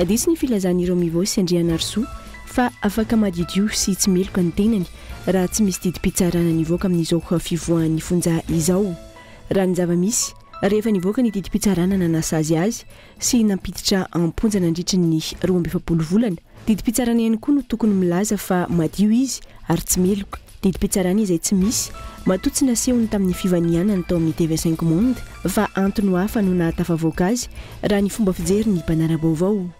Diso ny filazan'ireo mivoy sy Andrianarisoa fa afaka madiodio sy tsy meloka ny tenany raha tsy misy didim-pitsarana nivoaka amin'izao fivoahan'ny fonja izao. Raha ny zava-misy, rehefa nivoaka ny didim-pitsarana nanasazy azy sy nampiditra am-ponja nandritry ny roa amby efapolo volana. Didim-pitsarana ihany koa no tokony milaza fa madio izy ary tsy meloka. Didim-pitsarana izay tsy misy, matoa tsy nasehony tamin'ny fivanianany tao amin'ny TV Cinq Monde fa antony hafa no nahatafavoaka azy, raha ny fomba fijerin'ny mpanara-baovao.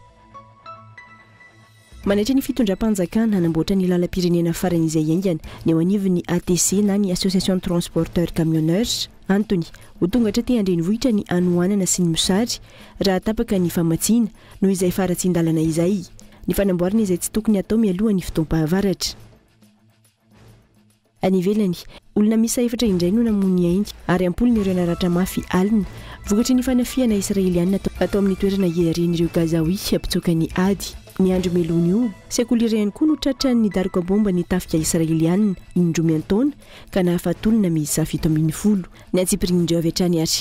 Manaitra ny fitondram-panjakana hanamboatra ny lalam-pirenena farany izay haingana ny eo anivon'ny ATC na ny Association de Transporteurs Camionneurs. Antony, ho tonga hatraty an-drenivohitra ny hanohanana sy ny mosary, raha tapaka ny famatsiana, noho izay faharatsian-dalana izay. Ny fanamboarana izay tsy tokony hatao mialoha ny fotoam-pahavaratra. Any ivelany, olona miisa efatra indray no namoy ny ainy ary am-polony ireo naratra mafy alina vokatry ny fanafihana Israeliana atao amin'ny toerana iarian'ireo Gazaoui mpitsoka ny ady. Ny andro melohan'io sekoly iray ihany koa no tratran'ny daroka baomba ny tafika Israeliana indroa miantaona ka nahafaty olona miisa fito ambin'ny folo. Ny antsipirian'ireo avy hatrany ary.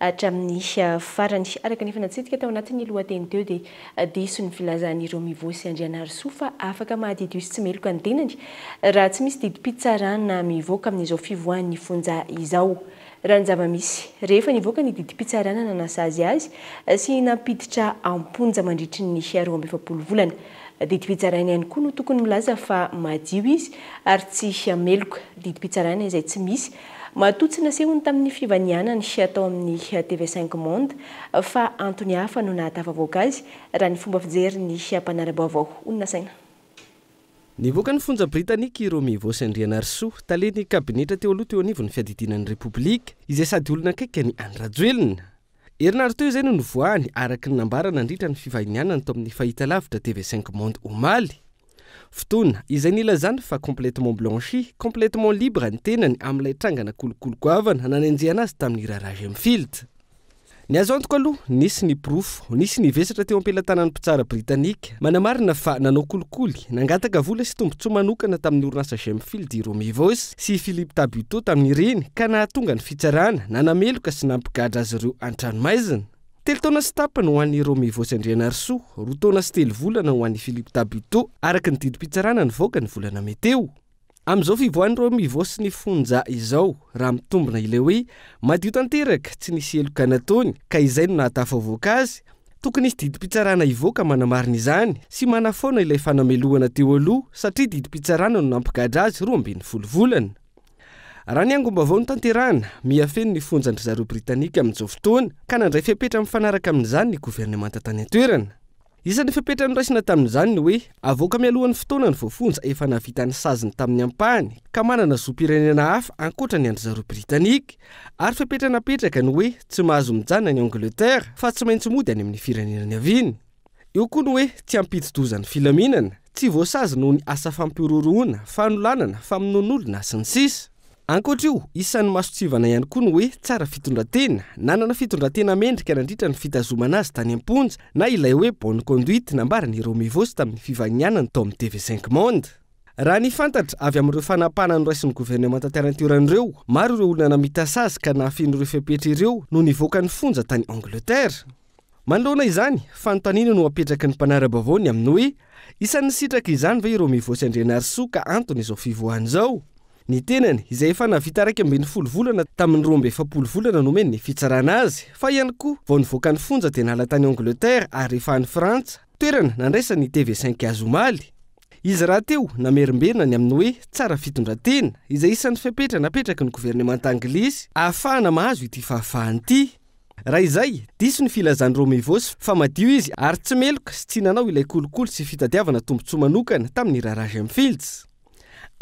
Hatramin'ny farany. Araka ny efa natsidika tao anatin'ny lohateny teo dia diso ny filazan'ireo Mivo sy Andrianarisoa fa afaka mahadidio sy tsy meloka ny tenany raha tsy misy didim-pitsarana mivoaka amin'izao fivoahan'ny fonja izao. Raha ny zava-misy, rehefa nivoaka ny didim-pitsarana nanasazy azy sy nampiditra am-ponja mandritry ny roa amby efapolo volana, didim-pitsaraina ihany koa no tokony milaza fa madio izy ary tsy meloka, didim-pitsarana izay tsy misy Matoa tsy nasehony tamin'ny fivanianany tao amin'ny TV Cinq Monde fa antony hafa no nahatafavoaka azy raha ny fomba fijerin'ny mpanara-baovao. Hoy ny nasaina. Nivoaka ny fonja Britanika i Romy Ivôsy Andrianarisoa, talen'ny kabinetra teo aloha teo anivon'ny fiadidiana ny Repoblika, izay sady olona akaiky an'i Andry Rajoelina. Herinarinteo izay no nivoahany, araka ny nambara nandritra ny fivahinianany tao amin'ny fahitalavitra TV Cinq Monde omaly. Fotoana, izay nilazany fa complètement blanchi, complètement libre ny tenany amin'ilay trangana kolikoly goavana nanenjehana azy tamin'ny raharaha J'aime Field. Ny azo antoka aloha, nisy ny porofo, nisy ny vesatra teo am-pelatanan'ny mpitsara Britanika, Manamarina fa nanao kolikoly, nangataka vola sy tombontsoa manokana tamin'ny orinasa Gemfield i Romy Vos sy i Philippe Tabuteau tamin'ireny ka nahatonga ny fitsarana nanameloka sy nampigadra azy ireo an-tranomaizina. Telo taona sy tapany ho an'i Romy Vos Andrianarisoa, roa taona sy telo volana ho an'i Philippe Tabuteau, araka ny didim-pitsarana nivoaka ny volana mey teo. Amin'izao fivoahan'i Romivo sy ny Fonja izao, raha mitombina ilay hoe madio tanteraka, tsy nisy heloka nataony, ka izay no nahatafavoaka azy, tokony hisy didim-pitsarana hivoaka manamarina izany sy manafoana ilay fanamelohana teo aloha satria didim-pitsarana no nampigadra azy roa ambin'ny folo volana. Raha ny angom-baovao notanterahina, miha feno ny fonjan-drizareo Britanika amin'izao fotoana, ka nandray fepetra mifanaraka amin'izany ny governemanta tany an-toerana. Isan'ny fepetra noraisina tamin'izany ny hoe avoaka mialohan'ny fotoana ny voafonja efa nahavita ny saziny tamin'ny ampahany ka manana zom-pirenena hafa ankoatra ny an-dry zareo Britanika ary fepetra napetraka ny hoe tsy mahazo mijanona any Angletera fa tsy maintsy mody any amin'ny firenena niaviany. Eo koa ny hoe tsy hampidi-doza ny filaminana. Tsy voasazy noho ny asa fampihorohoroana, fanolanana, famonoan'olona, sy ny sisa Ankoatra io, isan'ny masontsivana ihany koa ny hoe tsara fitondran-tena. Nanana fitondran-tena mendrika nandritra ny fitazomana azy tany am-ponja, na ilay hoe bonne conduite nambaran'i Romy Vos tamin'ny fivahinianany tao amin'ny TV Cinq Monde. Raha ny fantatra avy amin'ireo fanapahana noraisin'ny governemanta tany an-toerana ireo, maro ireo olona namita sazy ka nahafeno ireo fepetra ireo no nivoaka ny fonja tany Angleterre. Manoloana izany, fanontaniana no apetraky ny mpanara-baovao ny amin'ny hoe, isan'ny sitraky izany ve i Romivotsy Andrianarisoa ka antony izao fivoahany izao? Ny tenany, izay efa nahavita iraika ambin'ny folo volana tamin'ny roa amby efapolo volana nomen'ny fitsarana azy, fa ihany koa vao nivoaka ny fonja dia nahala tany Angleterre ary rehefa any Frantsa, toerana nandraisan'ny TV cinq azy omaly. Izy rahateo namerimberina ny amin'ny hoe, tsara fitondran-tena, izay isan'ny fepetra napetraky ny governemanta anglisy ahafahana mahazo ity fahafahana ity. Raha izay, diso ny filazan'i Romivôsy fa madio izy ary tsy meloka sy tsy nanao ilay kolikoly sy fitadiavana tombontsoa manokana tamin'ny raharaha Gemfields.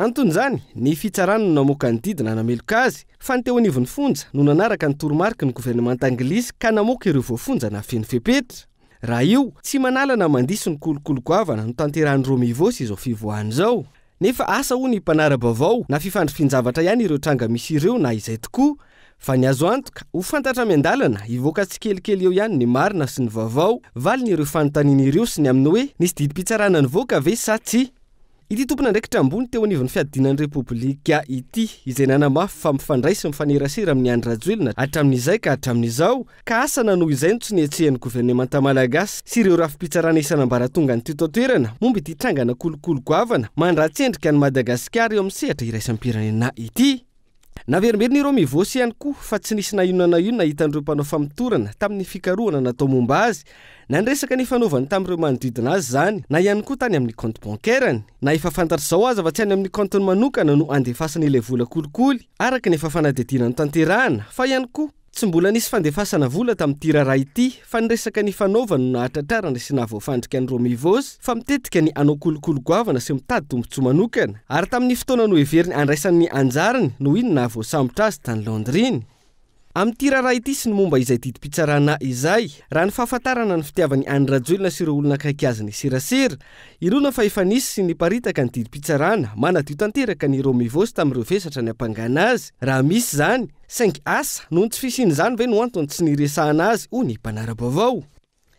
Anton'izany, ny fitsarana no namoaka ny didy nanameloka azy, fa ny teo anivon'ny fonja no nanaraka ny toromariky ny governemanta anglisy ka namoaka ireo voafonja nafeno fepetra. Raha io, tsy manala na mandiso ny kolikoly goavana notanterahin'i Romivôsy izao fivoahana izao. Nefa asa hoy ny mpanara-baovao na fifandrifian-javatra ihany ireo tranga misy ireo na izay tokoa fa ny azo antoka ho fantatra miandalana hivoaka tsikelikely eo ihany ny marina sy ny vaovao valiny ireo fanontaniana ireo sy ny amin'ny hoe nisy didim-pitsarana nivoaka ve sa tsia ity tompon'andraikitra ambony teo anivon'ny fiadiana ny repoblika ity izay nanamafy fa mifandray sy mifanerasera amin'i Andry Rajoelina hatramin'izay ka hatramin'izao ka asa na noho izay no tsy nihetsehan'ny governemanta malagasy sy ireo rafi-pitsarana isan'ambaratonga ny teto an-toerana momba ity trangana kolikoly goavana mandratsy endrika an'i Madagasikara eo amin'ny sehatra iraisam-pirenena ity. Naverimberin'ireo Mivôsy ihany koa fa tsy nisy na inona na inona hitan'ireo mpanao famotorana tamin'ny fikarohana natao momba azy na ny resaka nifanaovany tamin'ireo manodidina azy izany na ihany koa tany amin'ny kaonty bancaire-ny. Na efa fantatra izao aza fa tsy any amin'ny kaontiny manokana no andefasany ilay vola kolikoly araka ny efa fanadihadiana notanterahana fa ihany koa Tsy mbola nisy fandefasana vola tamin'ity raharaha ity fa ny resaka nifanaova no nahatratrarana sy nahavoafandrika an'i Romy Voos fa mitetika ny hanao kolikoly goavana sy mitady tombontsoa manokana ary tamin'ny fotoana noheveriny handraisany ny anjarany noho iny nahavoasambotra azy tany Londres iny. Amin'ity raharaha ity sy ny momba izay didim-pitsarana izay, raha ny fahafantarana ny fitiavany an'i Rajoelina sy ireo olona akaiky azy ny serasera, inoana fa efa nisy sy niparitaka ny didim-pitsarana manadio tanteraka an'i Romy Voos tamin'ireo vesatra niampangana azy, raha misy izany, Saingy asa noho ny tsy fisian'izany ve no antony tsy niresahana azy ho ny mpanara-baovao?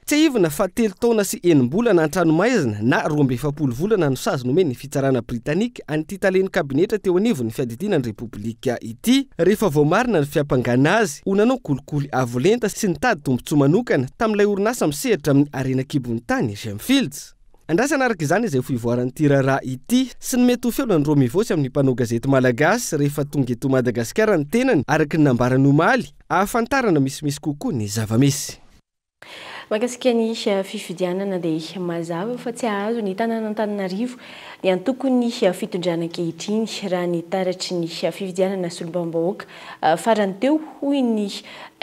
Tsiahivina fa telo taona sy enim-bolana an-tranomaizina na roa amby efapolo volana no sazy nomen'ny fitsarana britanika an'ity talen'ny kabinetra teo anivon'ny fiadidiana ny Repoblika ity, rehefa voamarina ny fiampangana azy ho nanao kolikoly avo lenta sy nitady tombontsoa manokana tamin'ilay orinasa misehatra amin'ny harena an-kibon'ny tany Gemfields. Andrasana araka izany izay fivoaran'ity raharaha ity sy ny mety ho feonan'i Romy Vossy amin'ny mpanao gazety malagasy rehefa tonga eto Madagasikara ny tenany araka ny nambarany omaly, ahafantarana misimisy kokoa ny zava-misy. Mahakasika ny fifidianana dia mazava fa tsy hahazo ny tanàn'Antananarivo ny antokon'ny fitondrana ankehitriny raha ny taratry ny fifidianana solombavambahoaka farany teo, hoy ny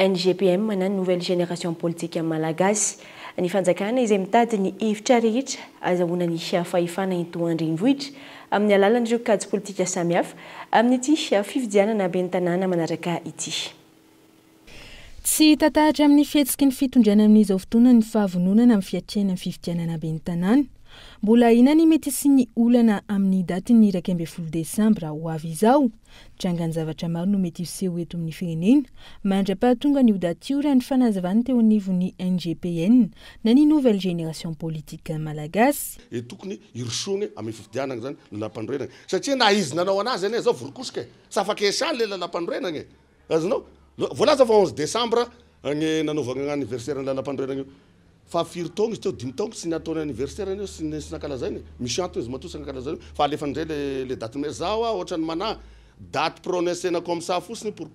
NGPM na Nouvelle Génération Politique Malagasy. Ny fanjakana izay mitady ny hevitra rehetra azahoana ny fahefana eto an-drenivohitra amin'ny alalan'ireo kajy politika samihafa amin'ity fifidianana ben'ny tanàna manaraka ity. Tsy hita tahatra amin'ny fihetsiky ny fitondrana amin'izao fotoana ny fahavononana amin'ny fiatrehana ny fifidianana ben'ny tanàna. Mbola ahiana ny mety hisian'ny olana amin'ny datin'ny iraika ambin'ny folo desambra ho avy izao Jangan-javatra maro no mety hiseho eto amin'ny firenena. Mandra-pahatonga an'io daty io, raha ny fanazavany teo anivon'ny NGPN, na ny Nouvelle Génération Politique Malagasy, Dia tokony hirosoana amin'ny fifidianana izany ny lampanorenana e! Satria na izy nanao anazy anie izao voron-kosika e! Tsy afaka hiasany ilay lalampanorenana e! Azonao? Voalaza fa onze décembre ny nanaovana ny anniversaire ny lalampanorenana io. Fa firy taona izy teo? Dimy taona fa tsy ny ataony anniversaire anie sy ny sy nankalazainy e! Misy antony izy matoa tsy nankalazainy io fa alefany indray le le date mais za hoa ohatrany manahy date pronocena comme ça fotsiny pour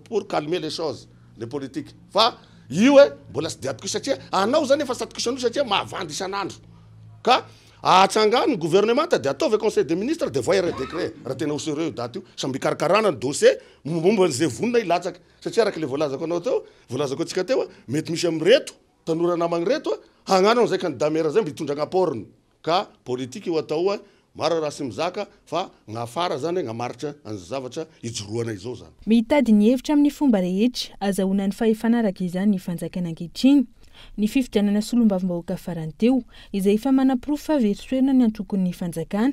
pour calmer les choses le politique fa io hoe mbola tsy diadiko io satria anao zany efa satokisany io satria mahavandy isan'andro ka ahatsangany ny gouvernemanta de ataovy conseil de ministre de voay arret decret raha tena ho sereux io date io samby hikarakarana ny dossier mombamomba an'izay vonona hilatsaka Satria araka ilay voalazako anao teo, voalazako antsika teo, mety misy amin'ireto tanora namagny ireto hagnano an'izay candidat maire zay mba hitondra ny apport-ny. Ka politique io atao oa, maro raha sy mizaka fa gn'afara zany hagnamaritra an'izao zavatra ijoroanay izao zany. Mitady ny hevitra amin'ny fomba rehetra azahoana ny fahefana araka izany ny fanjakana ankehitriny. Ny fifidianana solombavambahoaka farany teo, izay efa manaporofo fa very toerana ny antokon'ny fanjakana,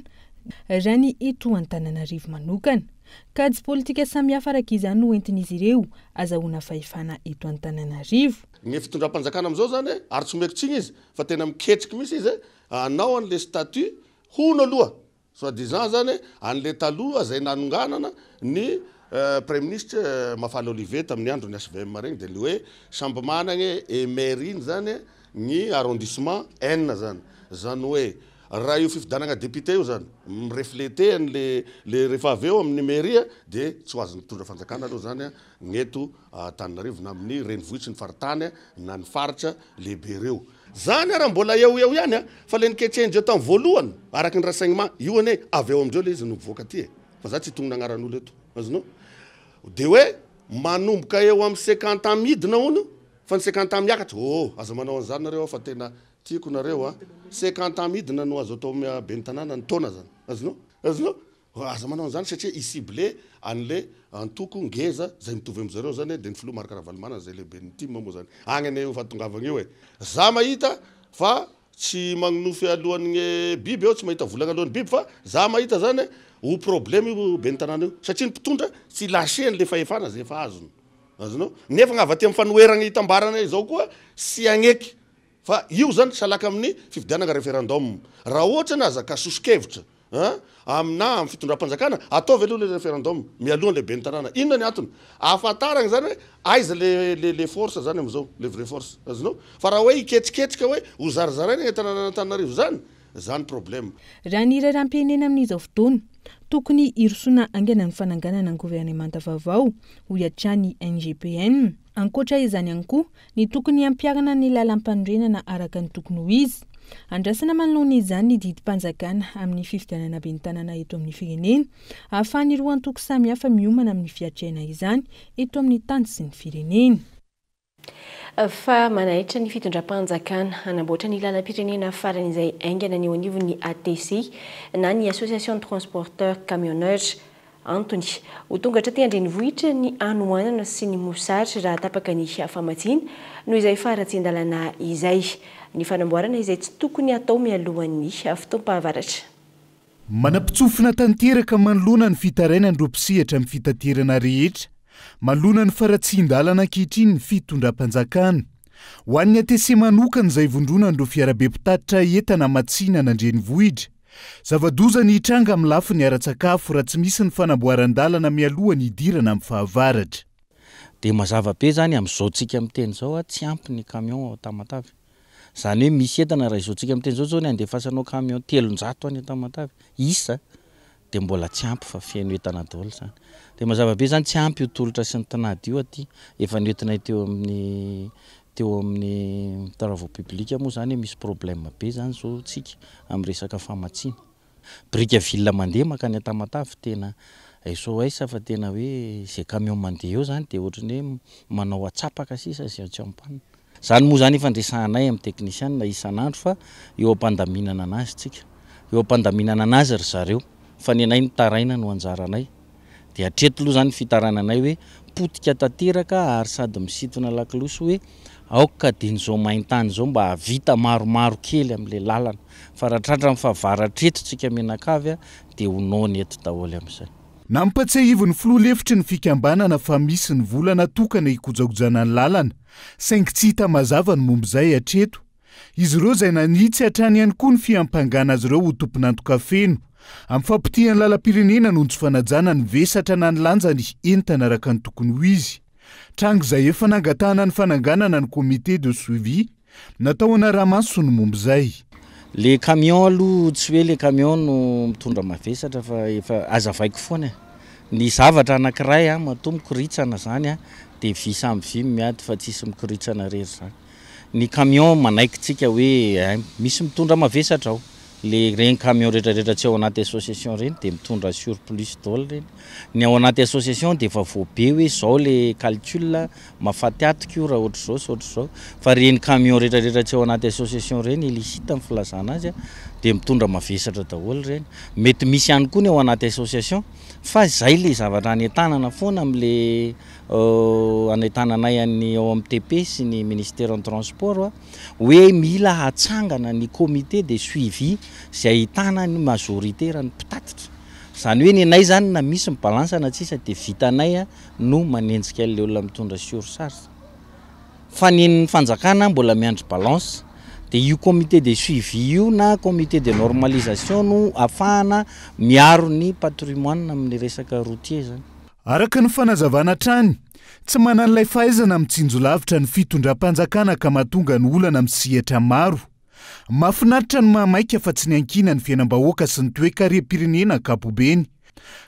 raha ny eto Antananarivo manokana, Kajy politika samihafa araka izany no entin'izy ireo azahoana fahefana eto Antananarivo. Ny fitondram-panjakana amin'izao izany ary tsy omeko tsiny izy fa tena miketriky mihitsy izy hanao an'ilay statut hono aloha soit disant izany an'ilay taloha izay nanonganana ny praiminisitra Mafana Olivier tamin'ny andron'ny HVM reny dia ilay hoe samby managna e maire iny izany ny arrondissement enina izany izany hoe Raha io fifidianagna député io zany mi-refleter an'i le le rehefa avy eo amin'ny mairie de tsy ho azon'ny mpitondra fanjakana aloha zany a ny eto Antananarivo na amin'ny renivohitry ny faritany na ny faritra lehibe ireo. Zany ara mbola eo ho eo ihany a! Fa le niketrehindreo tam voalohany araky ny renseignement io anie avy ao amindreo le izy no mivoaka aty e! Fa za tsy hitonona agnaran'olo eto azonao? De hoe manomboka eo am sekanta midina hono fa ny sekanta miakatra! Ohh aza manao an'zany nareo fa tena Tiako nareo a! Cinquante ans midina no azo atao mia ben'ny tanàna ny taona zany. Azonao? Azonao? Aza manao an'izany satria i cible an'le antoko ngeza zay mitovy amin'zareo zany e, de ny filoha Marc Ravalomanana zay lehiben'ny tim moa zany agny anie io fahatongavagny io e! Za mahita fa tsy magnonofy alohan'gne biby aho, tsy mahita volagna alohan'ny biby fa za mahita zany e, ho problème io ben'ny tanàna io satria ny mpitondra tsy lâcher an'le fahefana zay efa azony. Azonao? Nefa gna avy aty amin'ny fanoheragna hitambarana izao koa tsy hagneky Fa io zany salaka amin'ny fifidianagna referendum. Raha ohatra ny aza ka soso-kevitra an, aminà amin'ny fitondram-panjakana, ataovy aloha le referendum mialohan'ny lehiben'ny tanàna. Inona ny antony? Ahafantaragna zany hoe aiza le le le force zany am'zao, le vrai force. Azonao? Fa raha hoe hiketriketrika hoe ho zarizaraina eny an-tanànan'Antananarivo zany, zany problème. Raha ny raharaham-pirenena amin'izao fotoana, tokony hirosoana haingana ny fananganana governemanta vaovao, hoy hatrany ny NGPN. Ankoatra izany ihany koa, Ny tokony hampiharana ny lalampanorenana araka ny tokony ho izy. Andrasana manoloana izany ny didim-panjakana amin'ny fifidianana ben'ny tanàna eto amin'ny firenena, ahafahan'ny roa antoko samihafa miomana amin'ny fiatrehana izany eto amin'ny tany sy ny firenena. Fa manaitra ny fitondram-panjakana hanamboatra ny lalam-pirenena farany izay haingana ny eo anivon'ny ATC na ny Association de transporteurs camionneurs. Antony, ho tonga hatraty an-drenivohitra ny hanoanana sy ny mosary raha tapaka ny famatsiana noho izay faharatsian-dalàna izay. Ny fanamboarana izay tsy tokony hatao mialohan'ny fotoam-pahavaratra. Manam-pitsofina tanteraka manoloana ny fitarainan'ireo mpisehatra amin'ny fitaterana rehetra manoloana ny faharatsian-dalana ankehitriny ny fitondram-panjakana. Ho an'ny ATC manokana izay ivondronan'ireo fiarabe mpitatitra entana amatsinana an-drenivohitra, Zava-doza ny hitranga amin'ny lafiny ara-tsakafo raha tsy misy ny fanamboaran-dalana mialoha ny hidirana amin'ny fahavaratra. Dia mazava be izany amin'izao tsika miteny izao a, tsy ampy ny camion ao Tamatave. Izany hoe misy entana raha izao tsika miteny izao zao ny andefasanao camion telonjato any Tamatave isa dia mbola tsy ampy fa feno entana daholo izany. Dia mazava be izany tsy ampy io tolotra sy ny tinady io aty efa nentinay teo amin'ny Teo amin'ny travaux publics moa izany misy problème be izany izao tsika amin'ny resaka famatsiana biriky ville mandeha mankany Tamatave tena SOS fa tena hoe izay camion mandeha eo izany dia ohatry ny hoe manao atsapaka sisa izay tsy en panne. Izany moa izany efa andresahanay amin'ny technician isan'andro fa eo am-pandaminana an'azy tsika. Eo am-pandaminana an'azy ry zareo fa ny anay mitaraina no anjaranay. Dia hatreto aloha izany ny fitarananay hoe potika tanteraka ary sady misintona lakolosy hoe aoka dian'izao main-tany izao mba hahavita maromaro kely amin'ilay lalana fa raha tratran'ny fahavaratra eto tsika mianakavy dia ho noana eto daholo amin'izay. Nampatsiahivin'ny filoha lefitry ny fikambanana fa misy ny vola natokana hikojakojana ny lalana saingy tsy hita mazava ny momba izay hatreto. Izy ireo izay nanitsy hatrany ihany koa ny fiampangana azy ireo ho tompon'antoka feno amin'ny fampitihan'ny lalam-pirenena noho ny tsy fanajana ny vesatra na ny lanjan'ny entana araka ny tokony ho izy, tranga izay efa nangatahana ny fananganana ny comité de suivi natao hanara-maso ny momba izay. Le camion aloha tsy hoe le camion no mitondra mavesatra fa efa azavaiko foana e! Ny zavatra anakiray an matoa mikoritsana zany an de vy samy vy no miady fa tsisy mikoritsana rery zany. Ny camion manaikitsika hoe hay misy mitondra mavesatra ao. Le reny camion retraretra tsy ao anaty association reny de mitondra surplus daoly reny. Ny ao anaty association de efa voabe hoe zao le calcul a, mafaty atok io raha ohatry zao sy ohatry zao. Fa reny camion retraretra tsy ao anaty association reny, illicite ny filazana azy a, de mitondra mavesatra daholy reny. Mety misy ihany koa ny ao anaty association fa zay le zavatra any an-tanana foana am le hanaitana anay any ao amin'ny TP sy ny Ministeran'ny Transport hoe mila hatsangana ny comité de suivi izay ahitana ny majorité raha ny mpitatitra. Izany hoe ny anay izany na misy ny balance na tsisa dia vitanay no manenjika an'ilay olona mitondra surcharge. Fa ny an'ny fanjakana mbola miandry balance. Dia io comité de suivi io na comité de normalisation no afahana miaro ny patrimoine amin'ny resaka routier izany. Araka ny fanazavana hatrany, tsy manana ilay fahaizana mitsinjo lavitra ny fitondram-panjakana ka mahatonga ny olana amin'ny sehatra maro. Mahafinaritra ny mahamaika fa tsy niankina ny fiainam-bahoaka sy ny toekarem-pirenena ankapobeny,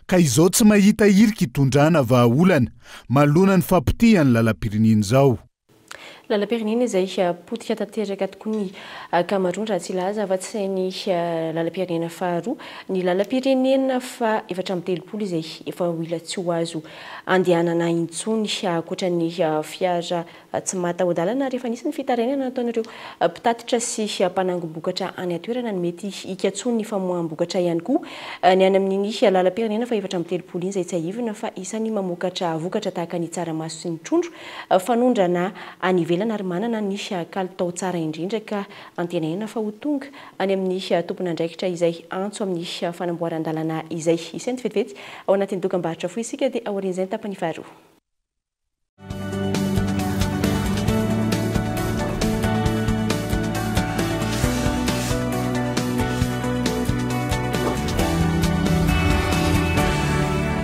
ka izao tsy mahita hirika hitondrana vahaolana manoloana ny fahapotehan'ny lalam-pirenena izao. Lalam-pirenena izay potika tanteraka tokoa ny ankamaroany raha tsy hilaza afa-tsy sain'ny lalam-pirenena faharoa, ny lalam-pirenena faha efatra amby telopolo izay efa ho ila tsy ho azo andehanana intsony ankoatra ny fiara tsy mataho-dalana ary efa nisy ny fitarainana nataon'ireo mpitatitra sy mpanangom-bokatra any an-toerana ny mety hikatsoan'ny famoaham-bokatra ihany koa ny any amin'iny lalam-pirenena faha efatra amby telopolo iny izay tsiahivina fa isan'ny mamokatra vokatra tahaka ny tsaramaso sy ny trondro fanondrana any ivelany ary manana ny kalitao tsara indrindra ka antenaina fa ho tonga any amin'ny tompon'andraikitra izay antso amin'ny fanamboaran-dalana izay isainty vetivety ao anatin'ny dokambarotra fohy isika dia aorian'izay ny tapany faharoa.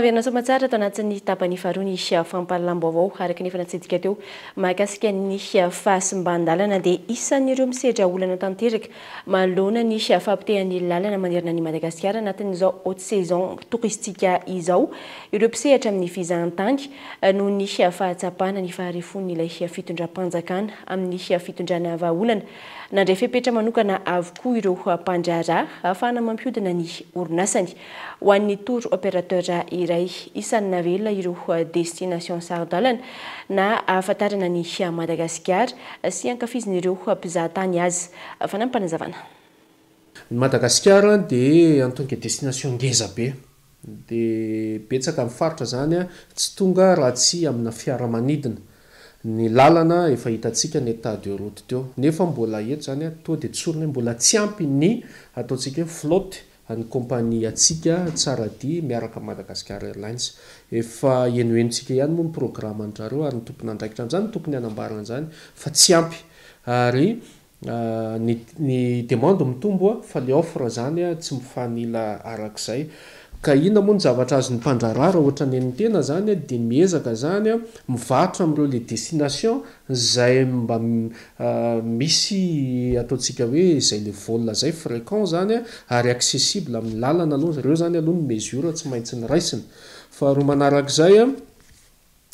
Fahaverina soamantsara ato anatin'ny tapany faharoa ny fampahalalam-baovao araka ny efa natsidika teo mahakasika ny fahasimbandalana dia isan'ireo misedra olana tanteraka Manoloana ny fahapotehan'ny lalana manerana an'i Madagasikara anatin'izao haute saison touristique izao ireo mpisehatra amin'ny fizahantany noho ny fahatsapana ny faharefon'ilay fitondram-panjakana amin'ny fitondrana vahaolana, nandray fepetra manokana avokoa ireo mpandraharaha ahafahana mampihodina ny orinasany. Ho an'ny tour operateur iray, isan'ny navelona ireo destinations saro-dalana na ahafantarana an'i Madagasikara sy ankafizin'ireo mpizaha tany azy. Fanampin'Panazavana. Ny Madagasikara dia antonga destination ngeza be, dia betsaka ny faritra izany tsy tonga raha tsy amina fiaramanidina. Ny lalana efa hitantsika ny etat de route teo, nefa mbola eto izany toa dia tsorina hoe mbola tsy ampy ny ataontsika hoe flotte Ny kaompaniantsika Tsaradia miaraka amin'ny Madagascar Airlines. Efa henohenontsika ihany moa ny programan-dRareo ary ny tompon'andraikitra an'izany tokony hanambara an'izany fa tsy ampy ary ny ny demande mitombo fa ilay offre izany tsy mifanila araka izay. Ka inona moa ny zavatra azon'ny mpandraharaha raha ohatra ny an'ny tena izany dia miezaka izany mivarotra amin'ireo les destinations Izay mba misy ataontsika hoe izay le vol zay frequent zany a, ary accessible amin'ny lalana aloha zay, reo zany aloha ny mesure tsy maintsy noraisina. Faharoa manarak'izay a,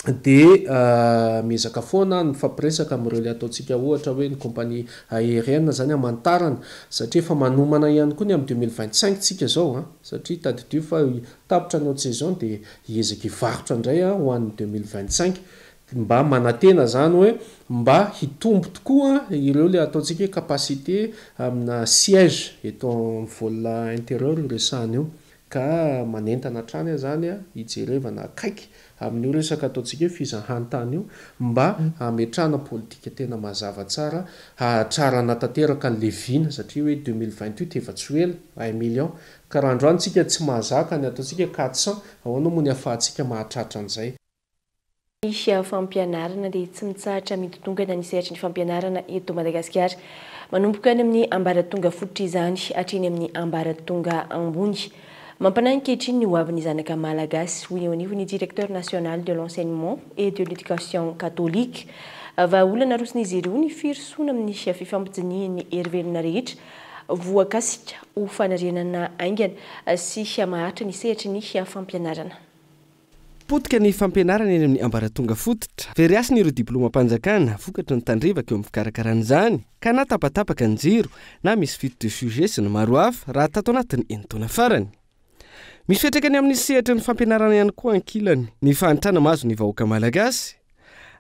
de miezaka foana a mifampiresaka amin'ireo le ataontsika ohatra hoe ny compagnie aérienne zany hamantarana, satria efa manomana ihany koa ny amin'ny deux mille vingt cinq tsika zao a, satria tadidio fa tapitra ny haute saison de hiezaka hivarotra indray a ho an'ny deux mille vingt cinq, Mba manantena izany hoe mba hitombo tokoa ireo ilay ataontsika hoe capacité amina siège eto amin'ny vol intérieur io resahana io. Ka manentana hatrany aho izany hijerevana akaiky amin'io resaka ataontsika hoe fizahantany io mba hametrahana politika tena mazava tsara hahatrarana tanteraka an'ilay vina satria hoe deux mille vingt huit efa tsy ho ela. Un million. Ka raha androany tsika tsy mahazaka ny ataontsika hoe quatre cents, ahoana moa ny ahafahantsika mahatratra an'izay. ny fampianarana dia tsy mitsahatra midodongana ny sehatry ny fampianarana eto Madagasikara, manomboka any amin'ny ambaratonga fototra izany hatreny amin'ny ambaratonga ambony. Mampanahy ankehitriny ny hoavin'ny zanaka Malagasy, hoy eo anivon'ny Directeur National de l'Enseignement et de l'Education Catholique. Vahaolana aroson'izy ireo ny firosoana amin'ny fifampidinihan'ny herivelona rehetra voakasika ho fanarenana haingana sy maharitra ny sehatry ny fampianarana. Potika ny fampianarana eny amin'ny ambaratonga fototra. Very hasina ireo diplaomam-panjakana vokatry ny tandrevaka eo amin'ny fikarakarana izany, ka na tapatapaka ny jiro, na misy fuite de sujet sy ny maro hafa, raha tato anatin'ny enin-taona farany. Misy fiantraikany amin'ny sehatry ny fampianarana ihany koa ankilany, ny fahantrana mahazo ny vahoaka malagasy.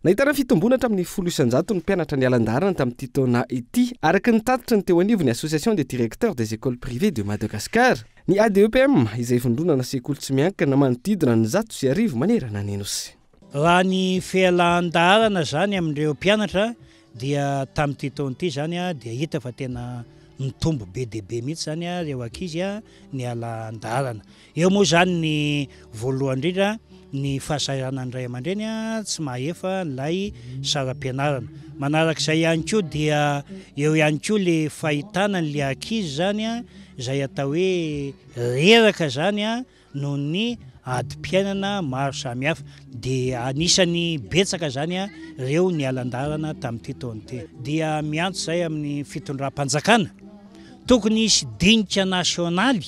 Nahitana fitomboana hatramin'ny folo isan-jato ny mpianatra niala an-dalana tamin'ity taona ity, araka ny tatitra ny teo anivon'ny Association des directeurs des écoles privées de Madagascar. Ny ADEPM, izay vondronana sekoly tsy miankina, manodidina ny zato sy arivo manerana ny Nosy. Raha ny fialan-dalana izany amin'ireo mpianatra Dia tamin'ity taona ity izany dia hita fa tena nitombo be dia be mihitsy izany ireo ankizy niala an-dalana. Eo moa izany ny voalohany indrindra ny fahasahiranan'ny ray aman-dreny tsy mahefa ilay saram-pianarana. Manaraka izay ihany koa dia eo ihany koa le fahitana an'ilay ankizy izany izay atao hoe reraka izany noho ny adim-piainana maro samihafa dia anisan'ny betsaka izany ireo niala an-dalana tamin'ity taona ity. Dia miantso izay amin'ny fitondram-panjakana, tokony hisy dinika nasionaly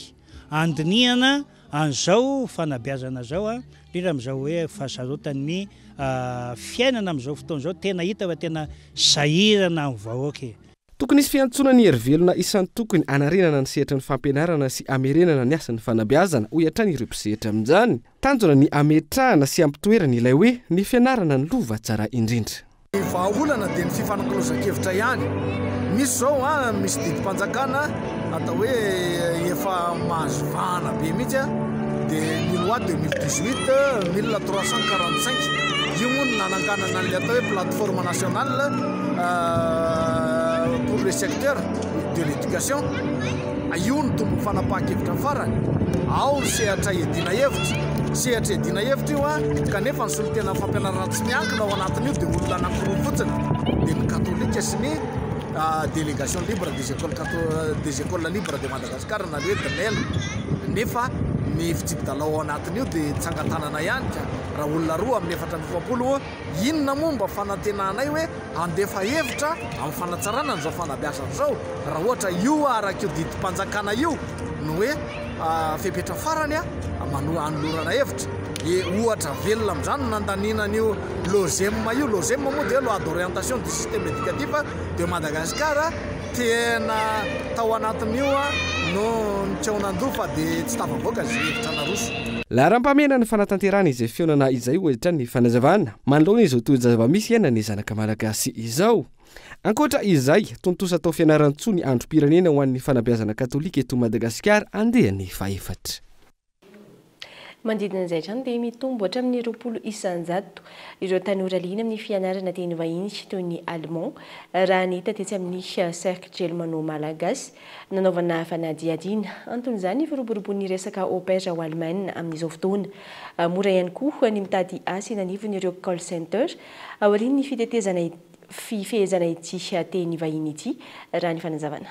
handinihana an'izao fanabeazana izao, indrindra amin'izao hoe fahasarotan'ny fiainana amin'izao fotoana izao, tena hita fa tena sahirana ny vahoaka e! Tokony hisy fiantsoana ny herivelona isan-tokony hanarenana ny sehatry ny fampianarana sy hamerenana ny asan'ny fanabeazana, hoy hatrany ireo mpisehatra amin'izany. Tanjona ny hametrahana sy hampitoerana ilay hoe ny fianarana no lova tsara indrindra. Ny vahaolana dia ny fifanakalozan-kevitra ihany. Misy izao an, misy didim-panjakana Atao hoe efa mahazo vahana be mihitsy an, dia ny loi 2018 mille trois cent quarante cinq io moa no nananganana ny atao hoe plateforme nationale pour le secteur de l'éducation, io no tombony fanapahan-kevitra farany, ao ny sehatra iadiana hevitra, sehatra iadiana hevitra io an, kanefa ny solontenan'ny fampianarana tsy miankina ao anatin'io dia olona anankiroa fotsiny, dia ny katolika sy ny. Délégation libre des écoles catholiques des écoles libres de Madagascar na ny hoe DLEL nefa ny fitsipi-dalao ao anatin'io dia tsangan-tanana ihany ka raha olona roa amin'ny efatra amby efapolo ô, inona moa mba fanantenanay hoe handefa hevitra amin'ny fanatsarana an'izao fanabeazana izao raha ohatra io araka io didim-panjakana io no hoe Fepetra farany manoa anolorana hevitra dia ohatra velona amin'izany no nandaniana an'io LOGEM io. LOGEM moa dia loi d'orientation du système éducatif de Madagascar. Tena tao anatin'io no nitreonan-doha fa dia tsy tafavoaka izay hevitra naroso. Laharam-pahamehana ny fanatanterahana izay fihaonana izay hoy hatrany ny fanazavana manoloana izao tohiny zava-misy iainan'ny zanaka malagasy izao. Ankoatra izay, tontosa atao Fianarantsoa ny androm-pirenena ho an'ny fanabeazana katolika eto Madagasikara andiany fahefatra. Manodidina izay hatrany dia mitombo hatramin'ny roapolo isan-jato ireo tanora liana amin'ny fianarana teny vahiny sy toy ny Allemand, raha ny hita tetsy amin'ny Cercle Germano Malagasy nanaovana fanadihadiana. Anton'izany ny firoborobon'ny resaka au pair ao Allemagne amin'izao fotoana. Mora ihany koa ny mitady asa eny anivon'ireo call center aorian'ny fitetezana fifehezana ity teny vahiny ity, raha ny fanazavana.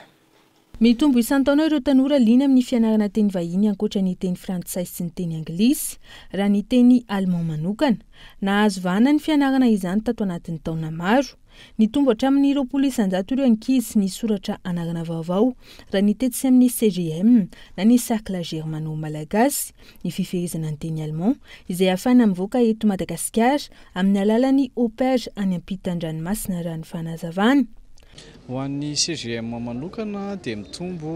Mitombo isan-taona ireo tanora liana amin'ny fianarana teny vahiny ankoatra ny teny frantsay sy ny teny anglisy, raha ny teny allemand manokana. Nahazo vahana ny fianarana izany tato anatin'ny taona maro. Nitombo hatramin'ny roapolo isan-jato ireo ankizy nisoratra anarana vaovao, raha ny tetsy amin'ny CGM, na ny Cercle Germano-Malagasy, ny fifehezana ny teny allemand izay afana mivoaka eto Madagasikara amin'ny alalan'ny OPER any ampitan-dranomasina raha ny fanazavana. Ho an'ny CGM manokana dia mitombo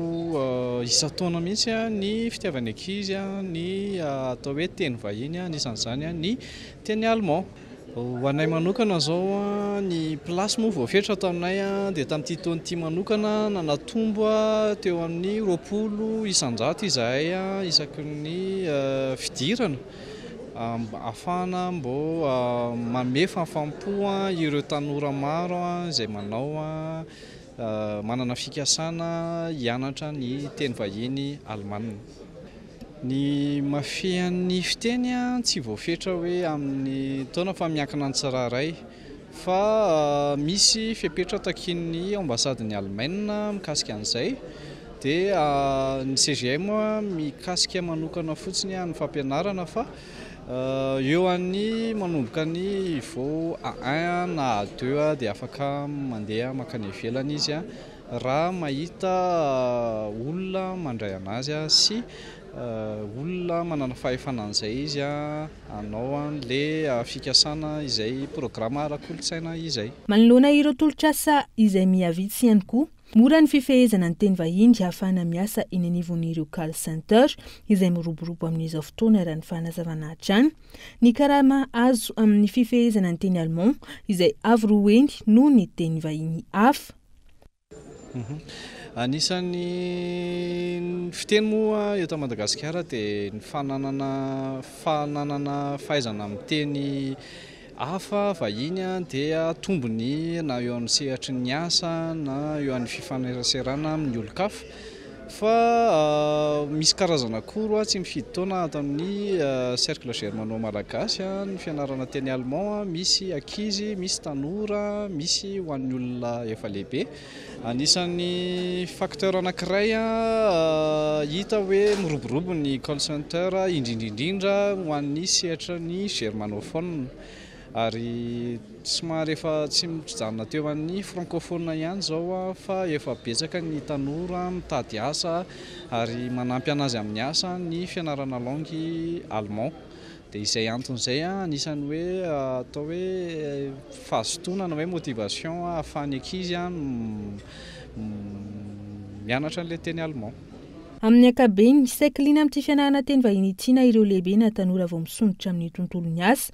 isan-taona mihitsy ny fitiavan'ny ankizy ny atao hoe teny vahiny, anisan'izany ny teny allemand. Ho anay manokana izao, ny place moa voafetra ato aminay dia tamin'ity taona ity manokana na natombo teo amin'ny roapolo isan-jato izahay isaky ny fidirana mba hahafahana mba manome fahafaham-po ireo tanora maro izay manao manana fikasana hianatra ny teny vahiny alemana. Ny mafehan'ny fiteny tsy voafetra hoe amin'ny taona fa miankina ny tsirairay. Fa misy fepetra takian'ny ambasadin'i Alemaina mikasika an'izay. Dia ny CGM mikasika manokana fotsiny ny fampianarana fa eo an'ny manomboka ny niveau A1 na A2 dia afaka mandeha mankany ivelany izy. Raha mahita olona mandray anazy sy olona manana fahefana an'izay izy, hanao an'ilay fikasana izay programa ara-kolontsaina izay. Manoloana ireo tolotr'asa izay miha vitsy ihany koa, mora ny fifehezana ny teny vahiny hahafahana miasa eny anivon'ireo call center izay miroborobo amin'izao fotoana raha ny fanazavana hatrany. Ny karama azo amin'ny fifehezana ny teny allemand izay avo roa heny noho ny teny vahiny hafa. Anisan'ny fiteny moa eto Madagasikara dia ny fananana fananana fahaizana miteny hafa vahiny dia tombony na eo amin'ny sehatry ny asa na eo amin'ny fifaneraserana amin'ny olon-kafa. Fa misy karazana cours tsy mifidy taona ato amin'ny Cercle Germano Malagasy ny fianarana teny allemand, misy ankizy, misy tanora, misy ho an'ny olona efa lehibe. Anisan'ny facteur anankiray hita hoe miroborobo ny call center indrindra indrindra ho an'ny sehatry ny germanophone. Ary somary efa tsy mijanona teo amin'ny francophone ihany izao aho fa efa betsaka ny tanora mitady asa ary manampy an'azy amin'ny asa ny fianarana langue allemand dia izay antony izay anisany hoe atao hoe fahazotoana na hoe motivation ahafahan'ny ankizy mianatra an'ilay teny allemand. Amin'ny ankabeny, saiky liana amin'ity fianarana teny vahiny ity na ireo lehibe na tanora vao misondrotra amin'ny tontolon'ny asa.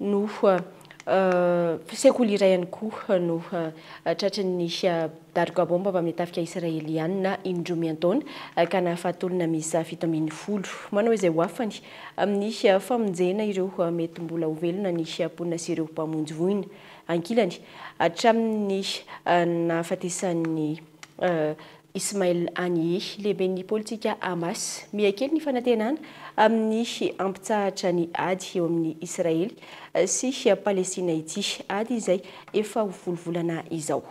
no sekoly iray ihany koa no tratry ny daroka baomba avy amin'ny tafika Israeliana indroa miantaona ka nahafaty olona miisa fito ambin'ny folo. Manao izay ho afany amin'ny famonjena ireo mety mbola ho velona ny mponina sy ireo mpamonjy voina ankilany hatramin'ny nahafatesan'ny Ismail Haniyeh, lehiben'ny politika Hamas, miha kely ny fanantenana amin'ny hampitsahatra ny ady eo amin'i Israely sy Palestina ity ady izay efa ho folo volana izao.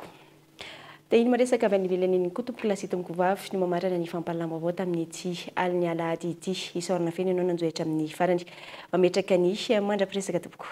Dia iny miresaka avy any ivelany iny koa tompokolahy sy tompokovavy no mamarana ny fampahalalam-baovao tamin'ity alin'ny alahady ity. Isaorana feno ianao nanjohy hatramin'ny farany. Mametraka ny mandra-piresaka tompoko.